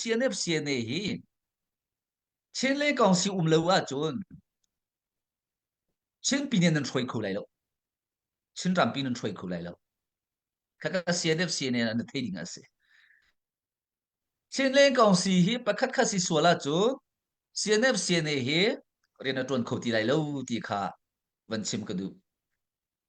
CNF CNA hi Chinle kong si um lo ahcun Chinpi nih nan hruai kho lai lo. Chinrampi nan hruai kho lai lo. Kaka CNF CNA an thei ding a si. Chinle kong si hi pakhat khat si sual ahcun CNF CNA hi rian a tuan kho ti lai lo ti kha van chim ka duh.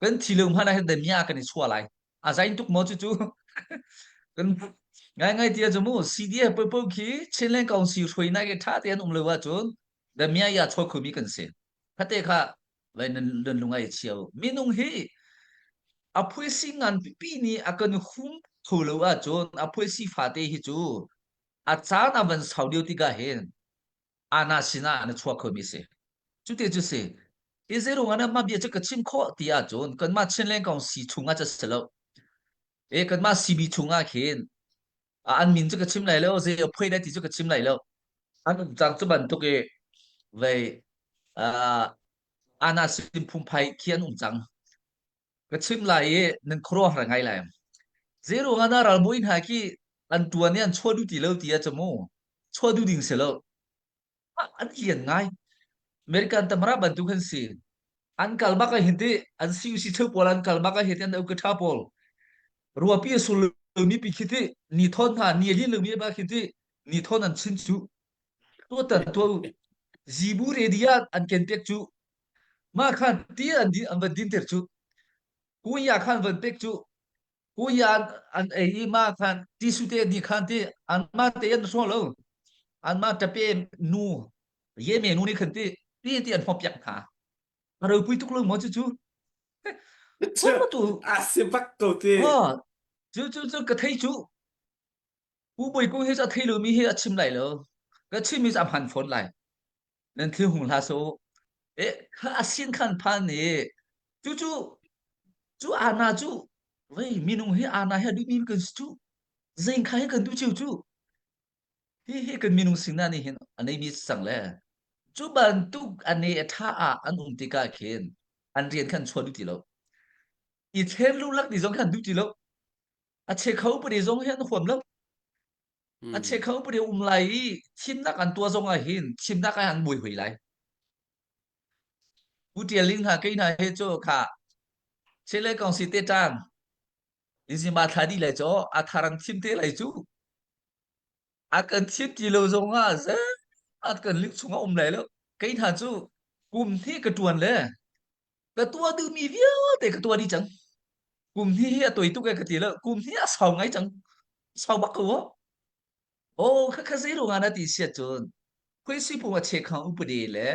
kan thi lo hmanh ah kan mia kan i chua lai a zain tuk mo cu kan ngai ngai tia chu mu CDF po po khi Chinland Council hroi nai ke tha te an um lo wa chun da mia ya choi khu mi kan se phate kha lai nan dan lungai chiao minung hi apui si ngan pi ni akan hum tho lo wa chun apui si fa te hi chu a chan avan sau dio tika hen Anna sinah na chuah khomi si. Cu te cu si. Hi zeirung ah na mah bia cu ka chim khawh ti ahcun kanmah Chinleng kong si chungah cu si lo. E kanmah CB chungah khin a an min cu ka chim lai lo, zei a phoi lai ti cu ka chim lai lo. An um cang cu bantuk i vei uh, Anna sin phungphai khi an um cang. ka chim lai i nan khuaruahhar ngai lai zei ruangah dah ralbawi hna khi an tuan i an chuah duh ti lo ti ah camu chuah duh ding si lo ah, an lian ngai american tamara bantuk an si an kal bak a hin ti an si si theu pawl an kal bak a hin ti an au ka tha pawl ruapi a sul mi pi khi ti ni thon hna ni li lu mi ba khi ti ni thon an chin chu to tan to zibu redia an ken pek chu Mah khan ti an din an van din ter cu kun ya khan van pek cu kun ya an, an ei i ma khan ti su te ni khan ti an ma te an so lo an ma tape nu ye me nu ni khan ti ti ti an hop yak hna a ro pui tuk lo mo chu chu hun ma tu a si bak ko ti ha chu chu chu ka thei chu ku boi ku hi a thei lo mi hi a chim lai lo ka chim mi am han phone lai nan thil hmu hlah so e a sin khan phan i cu cu cu ana cu vei minung hi ana hi duh mi kan si cu zein kha hi kan duh chiu cu hi hi kan minung sina nih hin a nei mi sang le cu bantuk a ne a tha ah an um tikah khin an rian khan chuan duh ti lo i thlem lu lak ni zong khan duh ti lo a che kho pade zong hi an huam lo A Mm. chekho put i um lai i thimnak an tuah zong ah hin thimnak ah an mui hoi lai. Pu Ṭial Ling hna kei hna he cu kha chele kong si te ṭang inzima thla di lai chaw a tharang thim te lai cu a kan thim ti lo zong ah ze at kan lik chung a um lai lo kei hna cu kum hi ka ṭuan le ka tuah duhmi vialte ka tuah dih cang kum hnih hi a toi tuk e ka ti lo kum hnih a sau ngai cang sau bak ko o kha kha zeirung ana ti siat cun phuisi phung a chek khang upadi le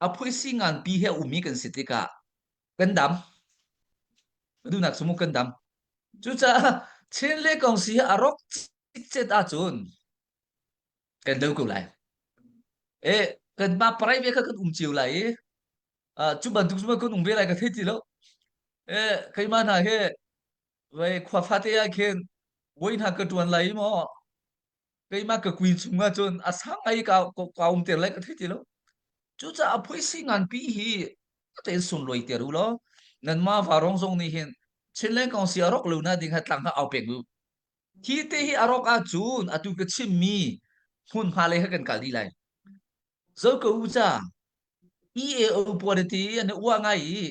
a phuisi ngan pi he umi kan si tikah kan dam dunak sumu kan dam cucaah chin le kong si a rok cicet ahcun kan do ko lai e kan ma parai ve kha kan um cio lai i Ah, cu bantuk cu ma kun ung ve lai ka thei ti lo. Eh, keimah hna he vai khwa fate ah khin voi hna ka tuan lai mo keimah ka kuin chunga chun a sang ai ka ka um ter lai ka thei ti lo cucaah phoisi nganpi hi tein sun loi ter u lo nan ma varong zong nih hin chinleng kong si arok lu na ding ha tlang ha au pek u hi te hi arok a cun atu ka chimmi hmun hma lei ha kan kal di lai Zo ko u ca. EAO puariti an i uah ngai i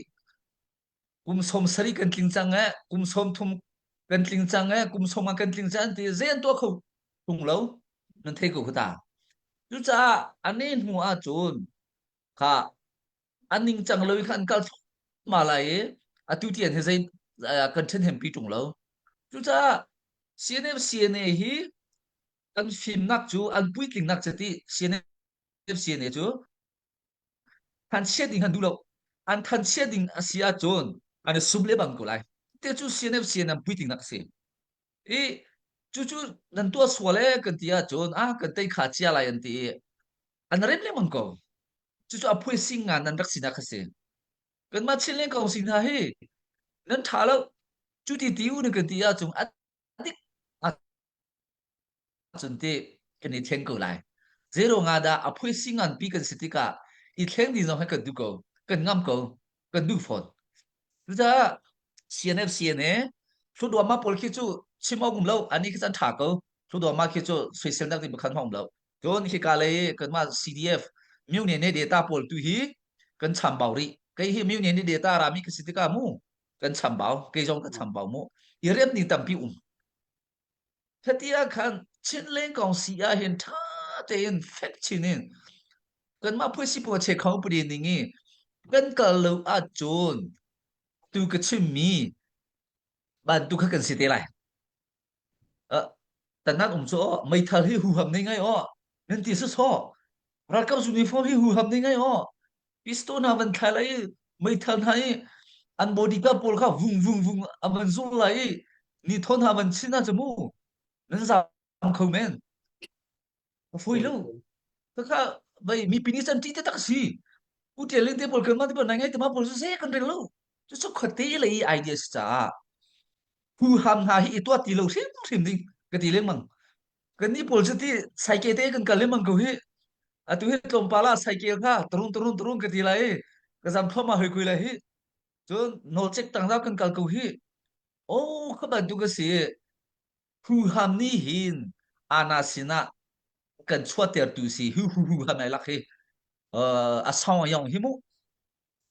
kum sawm sarih kan tling cang eh kum sawm thum kan tling cang eh kum sawm ah kan tling cang an ti zean tuah kho tung lo nan thei ko khu ta cucaah an ne hnu ah cun kha an ning cang lo i kha an kal ma lai i atu ti an he zei kan then hem pi tung lo cucaah CNM CNA hi Kan fimnak cu an puitlingnak chiti CNFCNA cu thanchiat ding han duh lo an thanchiat ding a si ahcun an i sum le bang ko lai te cu CNFCNA puitlingnak a si i cucu nan tuah sual e kan ti ahcun a kan tei kha cia lai an ti i an rem lengmang ko cucu a phui sing ngan nan rak sinak a si kanmah chin lengkong sing hna hi nan ṭha lo cuti ti u na kan ti ahcun a Ahcun ti kan i thleng ko lai. Zeiro nga dah a phui si ngan pi kan si tikah i thleng ding zong hi kan duh ko. Kan ngam ko. Kan duh fawn. Cucaah CNF CNA thluduama pawl khi cu chim awk um lo ani khi chan tha ko thluduama khi cu soisel nak ding pakhat ma um lo cun khi ka lei kanma CDF myu ne ne data pawl tu hi kan chambau ri kai hi myu ne ne data rami ka si tika mu kan chambau kei zong ka chambau mu i rian ni tampi um hati ah khan chinleng kong si ah hin tha tein fek chin in kanmah phui si puache khau pari ning i kan kal lo ah cun tu ka chimmi ban tu kha kan si te lai Tanak um cu aw meithal hi huham nei ngai aw nan ti sasawh ralkap zung uniform hi huham nei ngai aw pistol hna van khai lai meithal hna i an bodyguard pawl kha vung vung vung a van zul lai i ni thawn hna van chin hna ca mu nan zam kho men a fawi lo kakha vai mi pini san ti te tak si u tia ling te pol kan ma ti pol nai ngai te ma pol su se kan rel lo chu su khat te le i idea si caah phu ham hna hi i tua ti lo hrim hrim ding ka ti leng mang kan ni pol si ti saike te kan kal leng mang ko hi atu hi tlom pala saike kha tarun tarun tarun ka ti lai ka zam thoma hoi kui lai hi cun no check tang da kan kal ko hi o kha ban tu ka si Huham nih hin ana sinah kan chuahtertu si hu hu hu ham ai lak hi uh, a song yong hi mu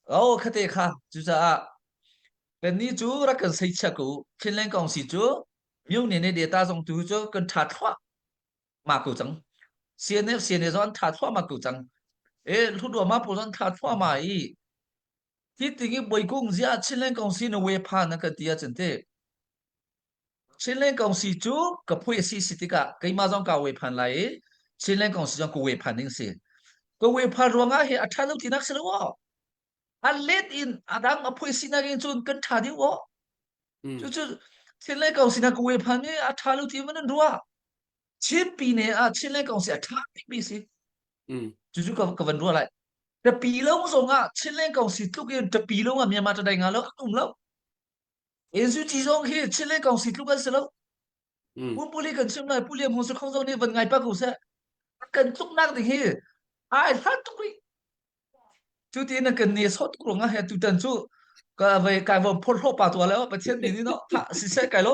o khate kha cucaah kannih cu rak kan sei chia ku Finland kong si cu myone ne data zong tu cu kan tha thwa ma ku chang CNF CNA zon tha thwa ma ku chang e ludwa ma po zon tha thwa ma i ti tingi boikung zia Chinland kong si na we pha na ka tia chente Chinland kong si cu ka phui a si si tikah keimah zong kaa uai phan lai i Chinland kong si zong ka uai phan ding a si. Ka uai phan ruangah hi a ṭha lo tinak si lo aw. A let in a dang a phui sinak in cun kan ṭha deuh aw. Mm. Cucu Chinland kong sinak ka uai phan i a ṭha lo ti in nan ruah. Chinpi ne ah Chinland kong si a ṭha bikmi si. Mm. Cucu ka, ka van ruah lai. Tapi lawng zongah Chinland kong si tluk in tapi lawngah Myanmar tadai nga lo an um lo. NCT zong hi Chinland Council tluk an si lo. Mm. Pumpuli kan chim lai, Puliam Hung Suk Khong zong nih van ngai pa ko seh. Kan tluknak ding hi ai hlat tuk rih. Cu ti na kan ni sawt tuk rong ah he tutan cu ka vai kai vom phor hlo pa tua le pathian ni ni no tha si se kai lo